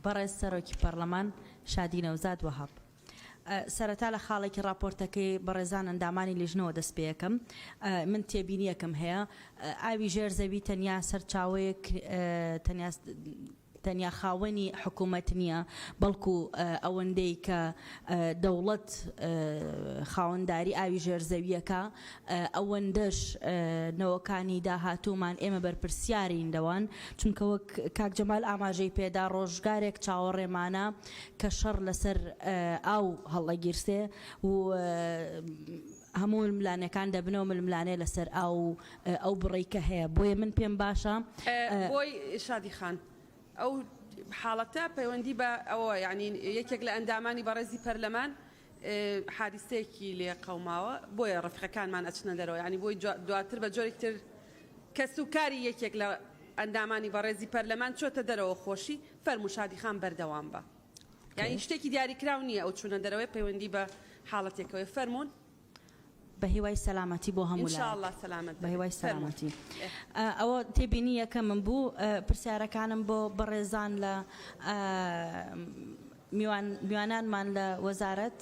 بەڕێز سەرۆکی پەڕلەمان شادی نەوزاد وەهاب. سەرەتا لە خاڵێکی ڕاپۆرتەکەی بەڕێزان ئەندامانی لیژنەوە دەست پێیەکەم من تێبینیەکەم هەیە ئاوی ژێر زەوی تەنیا سەرچاوەیەک تەنیا تەنیا خاوەنی حکوومەت نییە بەڵکو ئەوەندەی کە دەوڵەت خاوەنداری ئاوی ژێرزەویەکە ئەوەندەش نەوەکانی داهاتوومان ئێمە بەرپرسیارین لەوان، چونکە وەک کاک جەمال ئاماژەی پێدا ڕۆژگارێک چاوەڕێمانە کە شەڕ لەسەر ئاو هەڵئەگیرسێ و هەموو ململانێکان دەبنەوە ململانێ لەسەر ئاو و ئەو بڕەی کە هەیە بۆیە من پێم باشە. بۆی شادی خان، ئەو حاڵەتە پەیوەندی بە ئەوە یانی یەکێک لە ئەندامانی بەڕێزی پەرلەمان حادیسەیەکی لێ قەوماوە بۆیە ڕەفیقەکانمان ئەچنە دەرەوە یانی بۆی دواتر بە جۆرێکی تر کەس و کاری یەکێک لە ئەندامانی بەڕێزی پەرلەمان چۆتە دەرەوە خۆشی فەرموو شادی خان بەردەوام بە یانی شتێکی دیاری کراو نییە ئەو چونە دەرەوەی پەیوەندی بە حاڵەتێکەوەی فەرموون بەهیوای سەلامەتی بۆ هەموو لایەک. ان شاءاللە سەلامەت دەبیت. بەهیوای سەلامەتی. ئەوە تێبینی یەکەمم بوو. پرسیارەکانم بۆ بەڕێزان لە میوانانمان لە وەزارەت.